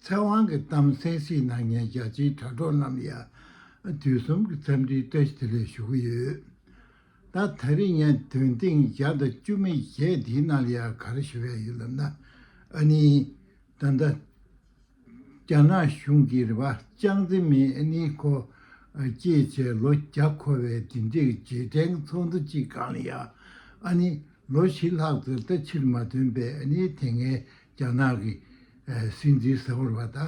ཚེ་དབང་གི་གཏམ་གསལ་བཤད་གནང་མཁན་རྒྱ་ཆེའི་དྲ་གྲོགས་རྣམས་ཡང་དུས་གསུམ་གྱི་འཚམས་འདྲིའི་བཀྲ་ཤིས་བདེ་ལེགས་ཞུ་གི་ཡོད། ད་ད་རིང་ངས་དོན་ཐེངས་བརྒྱ་དང་བཅུ་མེད་བརྒྱད་འདིའི་ནང་ལ་ཡང་ག་རེ་ཞུ་ཡ་ཡོད་ལབ་ན་ཨ་ནི། ད་ལྟ་རྒྱ་ནག་གཞུང་གིས་རེ་བ་ཅང་ཙེ་མིན་ཨ་ནི་ཁོ་སྐྱེས་བྱས་ལོ་བརྒྱ་འཁོར་བའི་དེ་འབྲེལ་གྱི་རྗེས་དྲན་གྱི་ཚོགས་འདུ་གཅིག་གང་ལ་ཡང་ཨ་ནི་ལོ་བཞི་ལྷག་ཙམ་ད་ཕྱིར་མ་ཐོན་པས་ཨ་ནི་དེ་སྔའི་རྒྱ་ནག་གི་སྲིད་འཛིན་ཟེར་བ་ལ་ད་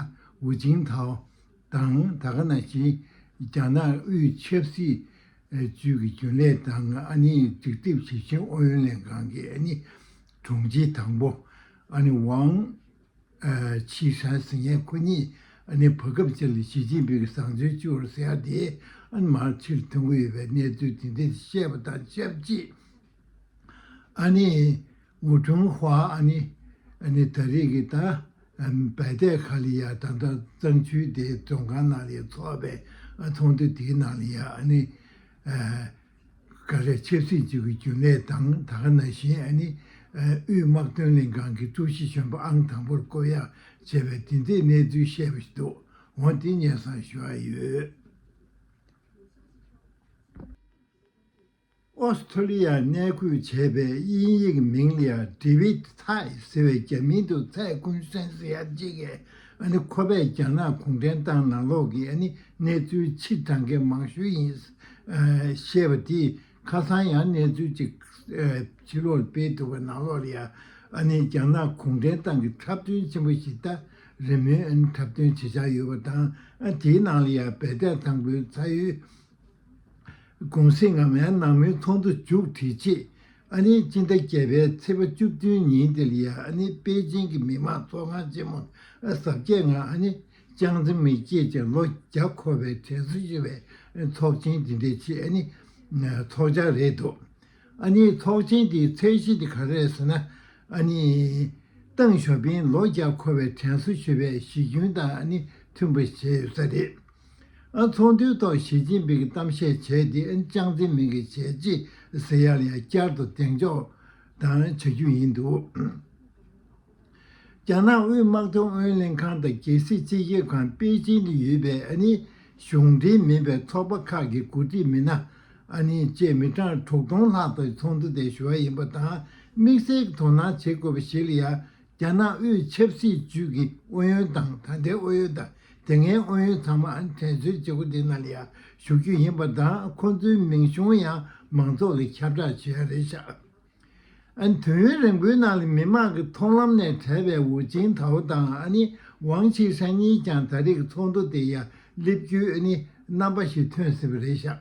ཝུ་ཅིང་ཐའོ་དང་ད་ག་ན་ཆིན་རྒྱ་ནག་དབུས་ཆབ་སྲིད་ཅུས་ཀྱི་རྒྱུན་ལས་དང་ཨ་ནིའི་སྒྲིག་སྡེབ་ཞིབ་མཆན་ཨུ་ཡོན་ལྷན་ཁང་གི་ཨ་ནི་དྲུང་ཆེ་དང་པོ་ཨ་ནི་ཝང་ཆི་ཧྲན་ཟི་ཉན་ཁོ་གཉིས་ཨ་ནི་བྷ་གབ་ཅན་ལ་ཞི་ཅིན་ཕིང་གི་བཟང་སྤྱོད་བཅུ་བར་ཟེར་ཡག་དེ་ཨ་ནི་མར་ཕྱིར་ཐོན་གྱི་ཡོད་པའི་གནས་ཚུལ་དེ་འདིར་བཤད་པ་དང་ཆབས་ཅིག་ཨ་ནི་ཝུ་ཁྲུང་ཧྭ་ཨ་ནི་ཨ་ནི་ད་རེས་ཀྱི་ད་བལ་ཏའི་ཁ་ལི་ཡ་ད་ལྟ་གཙང་ཆུའི་དེ་མཛོད་ཁང་ནང་ལས་ཚོགས་པའི་ཚོགས་འདུ་དེའི་ནང་ལས་ཡ་ཨ་ནི་ཀ་རེ་ཆབ་སྲིད་ཅུས་ཀྱི་རྒྱུན་ལས་དང་ད་ག་ན་ཞིན་ཨ་ནི་དབུས་དམག་དོན་ལྷན་ཁང་གི་ཀྲུའུ་ཞི་གཞོན་པ་ཨང་དང་པོར་བསྐོ་གཡག་བྱས་པའི་དེ་འཛིན་གནས་ཚུལ་བཤད་པ་ཞིག་འདུག་འོང་དེ་ཉན་བསམ་ཞུ་ཨ་ཡོད། ཨོ་སི་ཐྲོ་ལི་ཡར་གནས་འཁོད་བྱས་པའི་དབྱིན་ཡིག་མིང་ལ་དྲི་བིད་ཐའི་ཟེར་བའི་རྒྱ་མིང་དུ་ཚའེ་ཀུན་ཧྲན་ཟེར་ཡག་ཅེས་ཀྱི་ཁོ་པས་རྒྱ་ནག་གུང་ཁྲན་ཏང་ནང་ལོགས་ཀྱི་གནས་ཚུལ་ཕྱིར་འདྲང་མཁན་མང་ཤོས་ཡིན་ཞེས་པ་དེ་ཁ་སང་ཡང་གནས་ཚུལ་ཅིག་ཕྱི་ལོགས་ལ་སྤེལ་འདུག་པ་ནང་ལོགས་ལ་ཡང་རྒྱ་ནག་གུང་ཁྲན་ཏང་གི་འཁྲབ་སྟོན་ཆེན་པོ་ཞིག་ད་རེས་མོས་འཁྲབ་སྟོན་བྱེད་འཆར་ཡོད་པ་དང་དེའི་ནང་ལ་ཡང་བལ་བསྟན་ཐང་པོའི་ཚ་ཡུལ་གུང་གསེང་སྔ་མའི་ནང་མོའི་ཚོགས་འདུ་མཇུག་བསྒྲིལ་རྗེས་ཨ་ནེ་སྤྱི་ཟླ་བརྒྱད་པའི་ཚེས་པ་བཅུ་བདུན་ཉིན་ཏེ་ལི་ཡཱ་ཨ་ནེ་པེ་ཅིང་གི་མི་དམངས་ཚོགས་ཁང་ཆེན་མོར་ཨ་གསར་བརྒྱད་ང་ཨ་ནེ་ཅང་ཙེ་མིན་སྐྱེས་ཀྱི་ལོ་བརྒྱ་འཁོར་བའི་དྲན་གསོ་ཞུ་བའི་ཚོགས་ཆེན་དེ་འདི་ཕྱི་ཨ་ནེ་ཚོགས་ཆ་རེད་འདུག་ཨ་ནེ་ཚོགས་ཆེན་དེའི་ཚད་གཞི་དེ་ག་རེད་ཟེར་ན་ཨ་ནེ་ཏང་ཞོ་ཕིང་ལོ་བརྒྱ་འཁོར་བའི་དྲན་གསོ་ཞུ་བའི་གཞི་ཁྱོན་དང་ཨ་ནེ་མཐུན་པ་བྱས་ཡོད་ས་རེད། ཚོགས་འདུའི་ཐོག་ཞི་ཅིན་ཕིང་གིས་གཏམ་བཤད་བྱས་ཏེ་ཅང་ཙེ་མིན་གྱི་བྱས་རྗེས་ཟེར་ཡག་ལ་ཡང་བསྐྱར་དུ་གདེང་འཇོག་དང་བྱ་རྒྱུ་ཡིན་འདུག་རྒྱ་ནག་དབུས་དམག་དོན་ཨུ་ཡོན་ལྷན་ཁང་དང་རྒྱལ་སྲིད་སྤྱི་ཁྱབ་ཁང་པེ་ཅིང་དུ་ཡོད་པའི་ཨ་ནི་གཞུང་འབྲེལ་མིན་པའི་ཚོགས་པ་ཁག་གི་འགོ་ཁྲིད་མི་སྣ་ཨ་ནི་བཅས་མི་གྲངས་དྲུག་སྟོང་ལྷག་དང་ཚོགས་འདུ་དེར་ཞུགས་ཡ་ཡིན་པ་དང་དམིགས་བསལ་གྱི་དོ་སྣང་བྱེད་དགོས་པ་ཞིག་ལ་ཡང་རྒྱ་ནག་དབུས་ཆབ་སྲིད་ཅུས་ཀྱི་ཨུ་ཡོན་དང་ད་ལྟའི་ཨུ་ཡོན་དང་དེ་སྔའི་ཨུ་ཡོན་ཚང་མ་དྲན་གསོའི་བྱེད་སྒོ་དེ་ནང་ལ་ཡང་ཞུགས་རྒྱུ་ཡིན་པ་དང་ཁོང་ཚོའི་མིང་གཞུང་ཡང་མང་ཚོགས་ཀྱིས་ཁྱབ་བསྒྲགས་བྱེད་ཡ་རེད་ཤག་ཨན། དུས་ཡུན་རིང་པོའི་ནང་ལ་མི་དམངས་ཀྱི་མཐོང་ལམ་ནས་བྲལ་བའི་ཝུ་ཅིན་ཐའོ་དང་ཨ་ནི་ཝང་ཆི་ཧྲན་གཉིས་ཀྱང་ད་རེས་ཀྱི་ཚོགས་འདུ་དེ་ཡང་སླེབས་རྒྱུའི་ཨ་ནི་རྣམ་པ་ཞིག་ཐོན་ཟིན་པ་རེད་ཤག་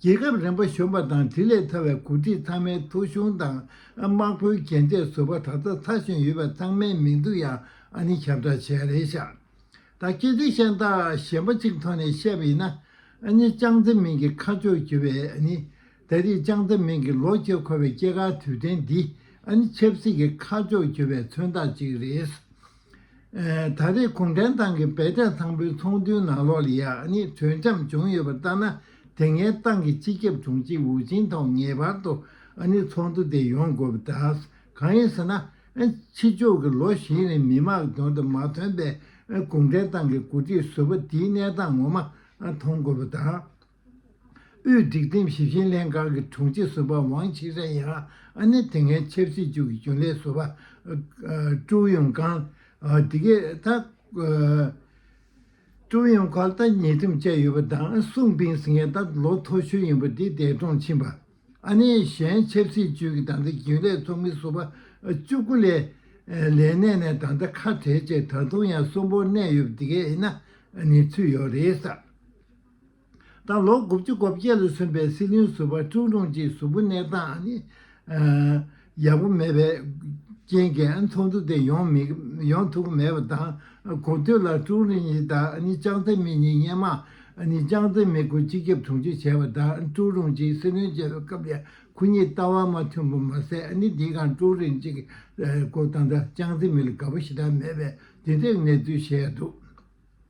རྒྱལ་ཁབ་རིམ་པ་གཞོན་པ་དང་དེ་ལས་ཐར་བའི་གོ་སྒྲིག་ཚང་མའི་ཐོ་གཞུང་དང་དམག་དཔོན་རྒན་བཅས་བཟོ་པ་གྲྭ་ཚང་ཚར་གཞོན་ཡོད་པ་ཚང་མའི་མིང་ཐོ་ཡང་ཨ་ནི་ཁྱབ་བསྒྲགས་བྱས་རེད་ཤག་ད་སྐད་ཆ་གཤམ་དག་གཞན་པ་གཅིག་ཐོག་ནས་བཤད་པ་ཡིན་ན་ཨ་ནི་ཅང་ཙེ་མིན་གྱི་ཁ་ཕྱོགས་བརྒྱུད་པའི་ཨ་ནི་ད་རེས་ཅང་ཙེ་མིན་གྱི་ལོག་སྐྱེལ་འཁོར་བའི་སྐྱེ་སྐར་དུས་དྲན་འདི་ཨ་ནི་ཆབ་སྲིད་ཀྱི་ཁ་ཕྱོགས་བརྒྱུད་པའི་མཚོན་རྟགས་གཅིག་རེད། ད་རེས་གུང་ཁྲན་ཏང་གི་བས་གྲ་ཚང་པོའི་ཚོགས་འདུའི་ནང་ལོག་ལི་ཡག་ནི་གྲོས་འཆམ་བྱུང་ཡོད་པར་བརྟག་ན་དེ་སྔའི་ཏང་གི་སྤྱི་ཁྱབ་དྲུང་ཆེ་ཝུའུ་ཅིན་ཐའོ་ངེས་པར་དུ་ནི་ཚོགས་འདུ་དེ་ཡོང་དགོས་པ་དང། གང་ཡིན་ཟེར་ན། ཕྱི་ཕྱོགས་ཀྱི་ལོ་བཞི་རིང་མི་དམངས་ཀྱི་དོན་དུ་མ་ཐོན་པའི་གུང་ཁྲན་ཏང་གི་འགོ་ཁྲིད་ཟུར་པ་དེའི་གནས་སྟངས་ངོ་མ་མཐོང་དགོས་པ་དང། དབུས་སྒྲིག་ཁྲིམས་ཞིབ་བཤེར་ལྷན་ཁང་གི་དྲུང་ཆེ་ཟུར་པ་ཝང་ཆི་ཧྲན་ཡང་ཨ་ནེ་དེ་སྔའི་ཆབ་སྲིད་ཅུའུ་གི་རྒྱུན་ལས་ཟུར་པ་ཀྲུའུ་ཡུང་ཀང། དེ་གའི་ད་ཀྲུའུ་ཡུང་ཁོ་ལྟ་ཉེས་ཁྲིམས་བཅད་ཡོད་པ་དང་སུང་པིང་སི་ངས་ད་ལོ་ཐོ་གཞོན་ཡིན་པ་དེ་འདས་གྲོངས་ཕྱིན་པ། ཨ་ནེའི་གཞན་ཆབ་སྲིད་ཅུའུ་གི་ད་ལྟ་རྒྱུན་ལས་ཚོགས་མི་ཟུར་པ་ཅུ་དགུ་ལས་ལས་གནས་ནས་ད་ལྟ་ཁ་བྲལ་རྗེས་ད་དུང་ཡང་གསོན་པོར་གནས་ཡོད་པ་དེ་གའི་ཨི་ན་ནི་ཚུད་ཡོད་རེད། དང་ལོ་དགུ་བཅུ་གོ་བརྒྱད་ལ་སོན་པའི་སྲིད་བློན་ཟུར་པ་ཀྲུའུ་ཀྲུང་གཅིག་གཟུགས་པོ་གནས་སྟངས་ཡག་པོ་མེད་པའི་རྐྱེན་གྱིས་ཚོགས་འདུ་དེ་ཡོང་ཐུབ་ཀྱི་མེད་པ་དང་གོ་ཐོས་ལ་ཀྲུའུ་རེན་ཡི་དང་ཅང་ཙེ་མིན་གཉིས་བརྙན་མང་ཅང་ཙེ་མིན་སྐོར་སྤྱི་ཁྱབ་དྲུང་ཆེ་བྱས་པ་དང་ཀྲུའུ་རུང་གཅིག་སྲིད་བློན་བྱས་པའི་སྐབས་ལས་ཁོ་གཉིས་ལྟ་བ་མ་མཐུན་པ་མ་ཟད་འདིའི་སྒང་ཀྲུའུ་རེན་གཅིག་གི་སྐོར་དང་ཅང་ཙེ་མིན་ལ་དགའ་པོ་ཞེ་དྲག་མེད་པའི་འདི་ལྟའི་གནས་ཚུལ་བཤད་འདུག་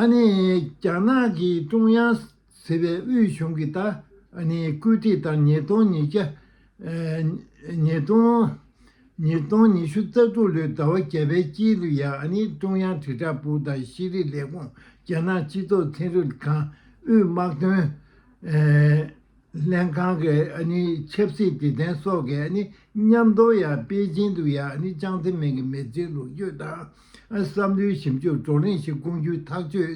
ཨ་ནི་རྒྱ་ནག་གི་ཀྲུང་དབྱང་ཟེར་བའི་དབུས་གཞུང་གིས་ད་ཨ་ནི་བཀོད་སྒྲིག་དང་ཉིས་སྟོང་ཉིས་བརྒྱ་ཉིས་སྟོང་ཉིས་སྟོང་ཉི་ཤུ་རྩ་དྲུག་ལོའི་ཟླ་བ་བརྒྱད་པའི་དཀྱིལ་དུ་ཡང་ཨ་ནི་ཀྲུང་དབྱང་དྲིལ་བསྒྲགས་པུའུ་དང་ཤེས་རིག་ལས་ཁུངས་རྒྱ་ནག་སྤྱི་ཚོགས་ཚན་རིག་ཁང་དབུས་དམག་དོན་ལྷན་ཁང་གི་ཆབ་སྲིད་དེ་ཐེན་སོགས་ཀྱི་མཉམ་དོར་ཡང་པེ་ཅིང་དུ་ཡང་ཅང་ཙེ་མིན་གྱི་མེར་བསྲེགས་ལོ་རྒྱུས་དང་བསམ་བློའི་ཞིབ་འཇུག་བགྲོ་གླེང་ཞིག་བསྐོང་རྒྱུའི་ཐག་གཅོད་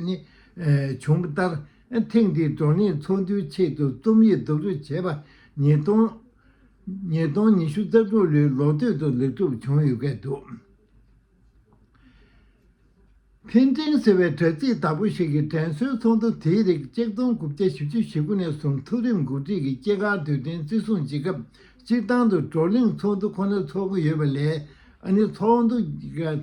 བྱུང་བ་ལྟར། ཐེངས་འདིའི་བགྲོ་གླེང་ཚོགས་འདུའི་ཆེད་དུ་རྩོམ་ཡིག་བསྡུ་རུབ་བྱས་པ་ཉིས་སྟོང་ཉི་ཤུ་རྩ་དྲུག་ལོའི་ལོ་སྟོད་དུ་ལེགས་གྲུབ་བྱུང་ཡོད་སྐད་འདུག། འཕེལ་འགྲིབ་ཟེར་བའི་དྲ་ཚིགས་དག་པོ་ཞིག་གི་དྲན་གསོའི་ཚོགས་འདུ་དེའི་རིགས་གཅིག་སྟོང་དགུ་བརྒྱ་བཞི་བཅུ་ཞེ་དགུ་ནས་བཟུང་ཐུགས་རེ་འགུག་ཁྲིད་ཀྱི་སྐྱེ་སྐར་དུས་དྲན་བརྩི་སྲུང་བྱེད་སྐབས་སྤྱིར་བཏང་དུ་བགྲོ་གླེང་ཚོགས་འདུ་ཁོ་ན་ཚོགས་ཀྱི་ཡོད་པ་ལས་ཨ་ནི་ཚོགས་འདུ་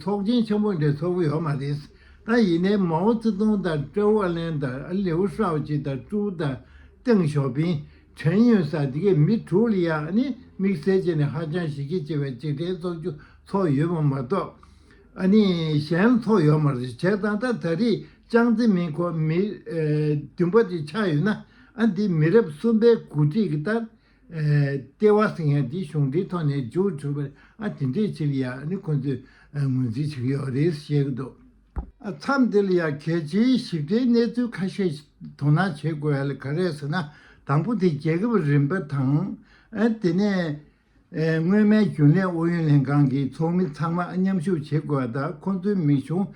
ཚོགས་ཆེན་ཆེན་པོ་འདྲ་ཚོགས་ཀྱི་ཡོད་མ་རེད། ད་ཡིན་ནའི་མའོ་ཙེ་ཏུང་དང་ཀྲའོ་ཝུའུ་ལན་དང་ལིའུ་ཧྲའོ་ཅི་དང་ཀྲུའུ་དང་ཏེང་ཞའོ་ཕིང་ཁྲེན་ཡོན་སཱ་ཏི་ཀས་མི་དྲུག་ལ་ཡང་ནི་དམིགས་བསལ་ཅན་ནི་ཧ་ཅང་གཞི་ཁྱད་ཆེ་བའི་འཇིག་རྟེན་བཙོག་རྒྱུ་ཚོགས་ཡོད་པ་མ་གཏོགས་ཨ་ནི་གཞན་ཚོགས་ཡོད་མ་རེད་བྱས་ཙང་ད་ད་རེས་ཅང་ཙེ་མིན་ཁོ་མི་བདུན་པ་དེ་ཆགས་ཡོད་ན་ཨ་འདི་མི་རབས་གསུམ་པའི་འགོ་ཁྲིད་ཀྱི་ལྟར་ལྟེ་བ་ཟིང་ཡང་འདི་གཞུང་འདིའི་ཐོག་ནས་འཇུག་འཕྲོད་པར་ཨ་དེ་འདྲས་ཆེ་ལ་ཡང་ནི་ཁོ་ཚོས་ངོས་འཛིན་བྱེད་ཀྱི་ཡོད་རེད་ཟེར་བཤད་ཀྱི་འདུག། མཚམས་འདིར་ཡང་གལ་ཆེའི་ཞིབ་ཕྲའི་གནས་ཚུལ་ཁ་ཤས་དོ་སྣང་བྱེད་དགོས་ཨ་ལས་ག་རེ་ཟེར་ན་དང་པོ་དེ་རྒྱལ་ཁབ་རིམ་པ་དང། དེ་ནས་སྔོན་མའི་རྒྱུན་ལས་ཨུ་ཡོན་ལྷན་ཁང་གི་ཚོགས་མི་ཚང་མ་མཉམ་ཞུགས་བྱེད་དགོས་པ་དང་ཁོང་ཚོའི་མིག་གཞུང་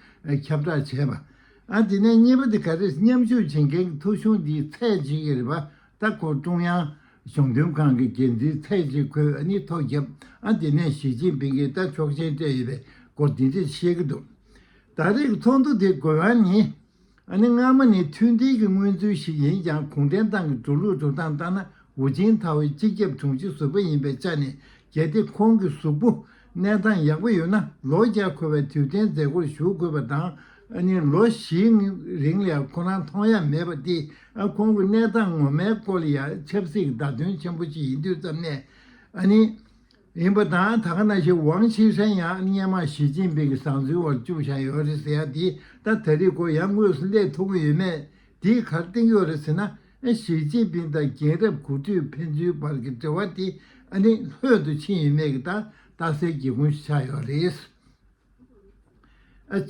ཁྱབ་བསྒྲགས་བྱས་པ། དེ་ནས་གཉིས་པ་དེ་ག་རེ་མཉམ་ཞུགས་བྱེད་མཁན་གྱི་ཐོ་གཞུང་དེའི་ཚད་ཇི་ཡི་རིགས་པ་ལྟ་སྐོར་ཀྲུང་དབྱང་གཞུང་དོན་ཁང་གི་འགན་འཛིན་ཚའེ་ཅི་ཁོས་ཨ་ནི་ཐོག་བརྒྱབ་ཨ་དེ་ནས་ཞི་ཅིན་ཕིང་གིས་ལྟ་ཕྱོགས་ཆེན་སྤྲད་ཡོད་པའི་སྐོར་འདི་འདྲས་བཤད་ཀྱི་འདུག་ད་རེས་ཀྱི་ཚོགས་འདུ་དེའི་དགོས་དབང་ནི། ཨ་ནི་སྔ་མོ་ནས་མཐུན་སྒྲིལ་གྱི་མངོན་ཚུལ་ཞིག་ཡིན་ཀྱང་གུང་ཁྲན་ཏང་གི་འགྲོ་ལུགས་འགྲོ་སྟངས་ལྟར་ན་ཝུ་ཅིན་ཐའོའི་སྤྱི་ཁྱབ་དྲུང་ཆེ་ཟུར་པ་ཡིན་པའི་ཆ་ནས་གལ་ཏེ་ཁོང་གི་གཟུགས་པོ་གནས་སྟངས་ཡག་པོ་ཡོད་ན་ལོ་བརྒྱ་འཁོར་བའི་དུས་གཏན་མཛད་སྒོར་ཞུགས་དགོས་པ་དང་ཨ་ནི་ལོ་བཞིའི་རིང་ལས་ཁོ་རང་མཐོང་ཡ་མེད་པ་དེ་ཁོང་གི་གནས་སྟངས་ངོ་མའི་སྐོར་ཡ་ཆབ་སྲིད་ཀྱི་བརྡ་དོན་ཆེན་པོ་ཞིག་ཡིན་དུས་ཙམ་ནས་ཨ་ནི་ཡིན་པ་དང་ད་ག་ན་ཞིག་ཝང་ཆི་ཧྲན་ཡང་ཨ་ནི་སྙན་མང་ཞི་ཅིན་ཕིང་གི་བཟང་ཚུལ་བར་བཅུག་བཞག་ཡོད་རེད་ཟེར་ཡ་དེ་ད་ད་རིག་གོ་ཡ་དངོས་སུ་སླེབས་ཐུབ་ཀྱི་ཡོད་མེད་དེ་གར་བཏིང་ཡོད་རེད་ཟེར་ན། ཞི་ཅིན་ཕིང་དང་རྒྱལ་རབས་དགུ་བཅུའི་ཕན་ཚུན་བར་གྱི་འབྲེལ་བ་དེ་ནི་ལྷོད་དུ་ཕྱིན་ཡོད་མེད་ཀྱི་ཏག་ཏག་གསལ་གྱི་དབང་ཤུགས་ཆགས་ཡོད་རེད།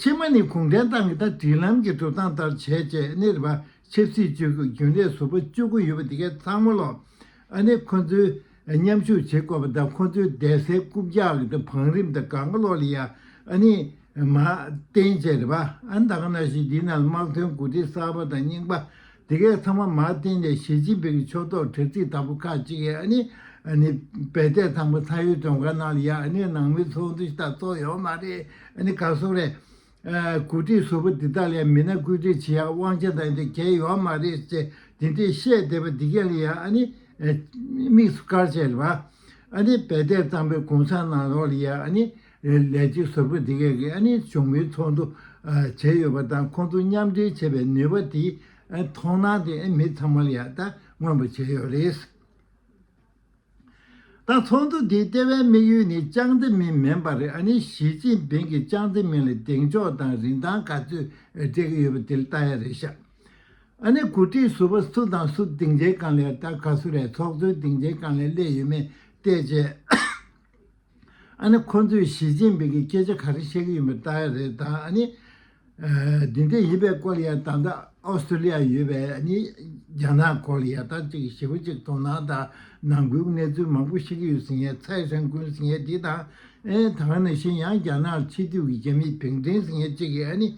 ཕྱི་མ་ནི་གུང་ཁྲན་ཏང་གི་ད་སྒྲིག་ལམ་གྱི་གྲུབ་སྟངས་ལྟར་བྱས་རྗེས་གནས་པ་ཆབ་སྲིད་ཅུས་ཀྱི་རྒྱུན་ལས་ཟུར་པ་བཅུ་དགུ་ཡོད་པ་དེ་གས་ཚང་མ་ལ་ཁོ་ཚོའི་མཉམ་ཞུགས་བྱེད་དགོས་པ་དང་ཁོང་ཚོའི་བསྡད་སའི་རྐུབ་བཀྱག་གི་བང་རིམ་དང་གང་ཀློག་ལ་ཡ་ཨ་ནི་མ་བསྟན་བཅས་རེད་བ་ཨ་ད་ག་ན་ཞིག་འདི་ན་དམག་དོན་འགོ་ཁྲིད་གསར་པ་དང་རྙིང་པ་དེ་གས་ཚང་མ་མ་བསྟན་ནས་ཞི་ཅིན་ཕིང་གི་ཕྱོགས་གཏོགས་དྲ་ཚིགས་དག་པོ་ཁག་གཅིག་གས་ཨ་ནི་ཨ་ནི་བལ་བསྡད་ཚང་པོ་ཚ་ཡུལ་དྲོན་ག་ན་ལ་ཡ་ཨ་ནི་ནང་མི་ཚོགས་འདུ་ཞིག་དག་ཚོགས་ཡོད་མ་རེད་ཨ་ནི་ག་སོགས་རེད་གོ་སྒྲིག་བཟོ་པོ་འདི་དག་ལས་མི་སྣ་བཀོད་སྒྲིག་བྱེད་ཡག་དབང་ཆ་འདང་དེ་གལ་ཡོད་མ་རེད་ཅེས་དེ་འདྲས་བཤད་བསྡད་པ་འདི་གལ་ཡང་ཨ་ནི་དམིགས་སུ་བཀར་བྱས་རེད་པ། ཨ་ནི་རྦད་དེ་གཙང་པའི་གུང་ཚང་ནང་རོགས་ལ་ཡང་ཨ་ནི་ལས་བྱེད་བཟོ་པོ་འདི་གས་ཨ་ནི་བྱུང་མིན་ཚོགས་འདུ་བྱས་ཡོད་པ་དང་ཁོང་ཚོ་མཉམ་འབྲེལ་བྱས་པའི་ནུས་པ་དེའི་མཐོང་སྣང་དེ་མི་ཚང་མ་ལ་ཡང་ད་མངོན་པར་བྱས་ཡོད་རེད། ད་ཚོགས་འདུ་འདིའི་ལྟེ་བའི་དམིགས་ཡུལ་ནི་ཅང་ཙེ་མིན་མིན་པར་ཨ་ནི་ཞི་ཅིན་ཕིང་གིས་ཅང་ཙེ་མིན་ལ་གདེང་འཇོག་དང་རིན་ཐང་ག་ཚོད་སྤྲད་ཀྱི་ཡོད་པ་དེ་ལྟ་ཡ་རེད་ཤག་ཨ་ནི་གོ་སྒྲིག་ཟུར་པ་སུ་དང་སུ་སྡིངས་ཆའི་སྒང་ལས་ད་ག་སུ་རེད་ཚོགས་གཙོའི་སྡིངས་ཆའི་སྒང་ལས་སླེབས་ཡོད་མེད་བལྟས་རྗེས། ཨ་ནི་ཁོ་ཚོས་ཞི་ཅིན་ཕིང་གི་སྐད་ཆ་ག་རེ་བཤད་གི་ཡིན་པ་ལྟ་ཡི་རེད་དམ་ཨ་ནི། དེ་འདྲ་ཡིན་པའི་སྐོར་ཡང་ད་ལྟ་ཨོ་སི་ཏྲོ་ལི་ཡ་ཡོད་པའི་ཨ་ནི་རྒྱ་ནག་སྐོར་ལ་ཡག་ཐག་ཅིག་ཞེ་པོ་ཅིག་དོ་སྣང་དང་ནང་ཁུལ་གནས་ཚུལ་མང་པོ་ཤེས་ཀྱི་ཡོད་ཟེར་མཁན་ཚའེ་ཧྲན་ཀུན་ཟེར་མཁན་དེ་དང་ཨན་ད་ག་ནང་བཞིན་ཡང་རྒྱ་ནག་ཕྱི་སྡོད་ཀྱི་རྒྱ་མི་བེང་ཀྲེང་ཟེར་མཁན་གཅིག་གིས་ཨ་ནི།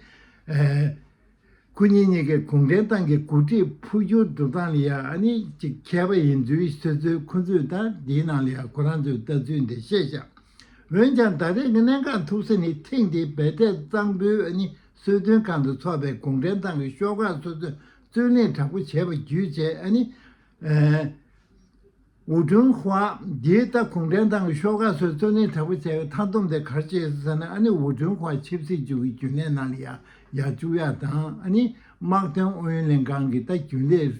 སྐུ་ཉིད་གཉིས་ཀས་གུང་ཁྲན་ཏང་གི་འགོ་ཁྲིད་འཕོ་འགྱུར་འགྲོ་སྟངས་ལ་ཡང་ནི་ཅིག་མཁས་པ་ཡིན་ཚུལ་ཤོད་ཚུལ་ཁོ་ཚོས་དང་དེའི་ནང་ལ་ཡང་ཁོ་རང་ཚོའི་ལྟ་ཚུལ་འདི་བཤད་བཞག་འོན་ཀྱང་ད་རེས་ཀྱི་གནད་འགག་ཐུག་ས་ནི་ཐེངས་འདིའི་རྦད་ཐེག་གཙང་པོའི་ཨ་ནི་གསོལ་སྟོན་ཁང་དུ་འཚོགས་པའི་གུང་ཁྲན་ཏང་གི་ཤོག་ཁག་སོ་སོས་རྩོད་གླེང་དྲག་པོ་བྱས་པ་བརྒྱུད་བྱས་ཨ་ནི། ཝུའུ་ཀྲུང་ཧྭ། འདི་ལྟ་གུང་ཁྲན་ཏང་གི་ཤོག་ཁག་སོགས་གཙོ་གནད་དྲག་པོ་བྱས་པའི་མཐའ་བསྡོམས་དེ་གར་བྱས་སོ་ཟེར་ན་ཨ་ནི་ཝུའུ་ཀྲུང་ཧྭའི་ཆབ་སྲིད་ཅུའུ་ཡི་རྒྱུན་ལས་ནཱ་ལི་ཡ་ཡཱ་ཅུའུ་ཡཱ་དང་ཨ་ནི་དམག་དོན་ཨུ་ཡོན་ལྷན་ཁང་གི་ལྟ་རྒྱུན་ལས་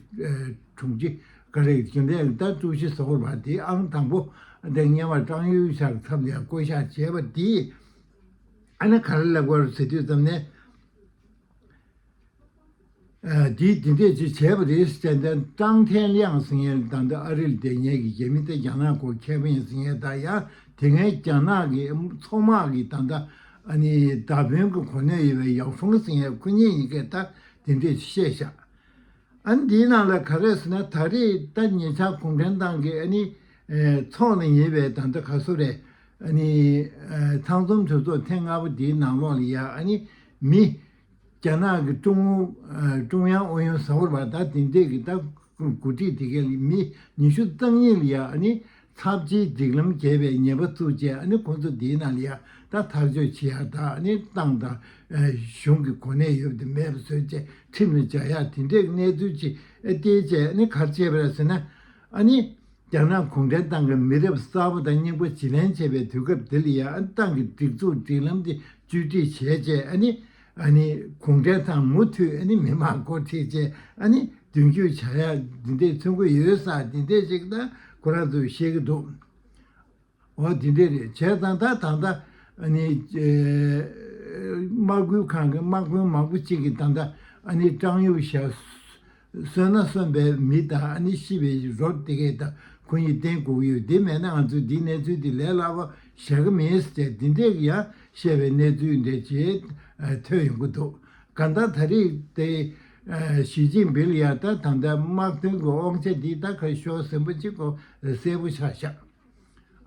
དྲུང་ཆེ་ཀ་རེག་རྒྱུན་ལས་ལྟ་ཀྲུའུ་ཞི་སོགས་བར་དེ་ཨང་དང་པོ་དེ་གཉེར་བར་ཀྲང་ཡུས་ཤཱར་འཚམས་ཡང་བསྐོ་བཞག་བྱས་པ་དེས་ཨ་ནི་ག་རེ་ལེགས་པར་ཟེར་དུས་ཙམ་ནས། དེས་དེ་འདྲས་ཅིག་བྱས་པ་རེད་ཟེར་ནས་ཀྲང་ཐན་དབྱང་ཟེར་མཁན་དེ་དང་འདི་ཨ་རིར་བསྡད་མྱལ་གྱི་རྒྱ་མི་དེ་རྒྱ་ནག་གོ་ཁྱད་མེད་ཟེར་མྱལ་ད་ཡང་དེ་སྔའི་རྒྱ་ནག་གི་མཚོ་དམག་གི་ད་ལྟ་ཨ་ནི་ད་བོན་གི་གོ་གནས་ཡོད་པའི་ཡའོ་ཧྥུང་ཟེར་མྱལ་ཁོ་གཉིས་ཡིན་སྐད་ད་དེ་འདྲས་བཤད་ཤག་ཨ་ནི་དེའི་ནང་ལ་ག་རེད་ཟེར་ན་ད་རེས་ད་ཉེ་ཆར་གུང་ཁྲན་ཏང་གི་ཨ་ནི་ཚོགས་ལ་ཉེ་བའི་ད་ལྟ་ག་སོ་རས་ཨ་ནི་ཚང་འཛོམས་གྲོས་ཚོགས་ཐེངས་ལྔ་པ་དེའི་ནང་ལོགས་ལ་ཡ་ཨ་ནི་མི། རྒྱ་ནག་གི་ཀྲུང་ཨུ་ཀྲུང་དབྱང་ཨུ་ཡོན་ཟ་ཧོར་བ་དག་དེང་དུས་ཀྱི་ལྟ་གོ་སྒྲིག་དེ་གའི་མི་ཉི་ཤུ་རྩ་གཉིས་ལ་ཡང་ནི་ཚབས་ཆེའི་སྒྲིག་ལམ་བརྒྱད་པའི་ཉེས་པ་བཙུགས་རྗེས་ནི་ཁོང་ཚོ་དེའི་ནང་ལ་ཡང་དག་ཐག་གཅོད་བྱེད་ཡག་དག་ནི་ཏང་དང་གཞུང་གི་གོ་གནས་ཡོད་དུ་མེད་པ་བཟོས་རྗེས་ཁྲིམས་ལ་སྦྱར་ཡག་དེ་འདྲའི་གནས་ཚུལ་ཅིག་སྟེ་བཅས་ནི་གར་བྱས་པ་རེད་ཟེར་ན། ཨ་ནི། རྒྱ་ནག་གུང་ཁྲན་ཏང་གི་མི་རབས་གསར་བ་དང་སྙིང་པོ་བྱེད་ལེན་བྱེད་པའི་དུས་སྐབས་འདི་ལ་ཡང་ཏང་གི་སྒྲིག་འཛུགས་སྒྲིག་ལམ་དེ་བཅོས་སྒྲིག་བྱས་རྗེས་ཨ་ནི། ཨ་ནི། གུང་ཁྲན་ཏང་མུ་མཐུད་ཨ་ནི་མི་དམངས་འགོ་ཁྲིད་བཅས་ཨ་ནི་མདུན་སྐྱོད་བྱ་ཡག་འདི་འདྲའི་ཐོན་ཁུངས་ཡོད་ས་འདི་འདྲས་ཞིག་ཏང་གོ་ར་འདུག་བཤད་ཀྱི་འདུག་འོ་དེ་འདྲས་རེད་བྱས་ཙང་ད་ད་ལྟ་ནི་དམག་ཁུལ་ཁང་གི་དམག་དཔོན་མང་པོ་གཅིག་གིས་ད་ལྟ་ཀྲང་གཡུ་ཞྭ་གསོན་ན་གསོན་པའི་མི་དང་ཤི་བའི་རོ་དེ་གས་ད་ཁོ་གཉིས་གཏན་བཀུག་ཡོད་དེ་མེད་ན་ང་ཚོས་འདིའི་གནས་ཚུལ་དེ་ལས་སླ་བོ་བྱ་གི་མིན་ཟེར་བྱས་དེ་འདྲས་ཀྱི་ཡང་བཤད་པའི་གནས་ཚུལ་འདྲས་བྱས་ཐོས་ཡོང་གི་འདུག་གང་ལྟར་ད་རེས་དེ། ཞི་ཅིན་ཕིལ་ཡང་ད་ཐང་ད་དམག་དོན་གྱི་དབང་ཆ་འདི་ད་གར་ཤོར་ཟིན་པ་གཅིག་གོ་གསལ་པོ་ཆགས་ཤག་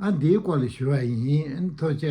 ཨ་འདིའི་སྐོར་ལ་ཞུ་བ་ཡིན་མཐོ་ཆ།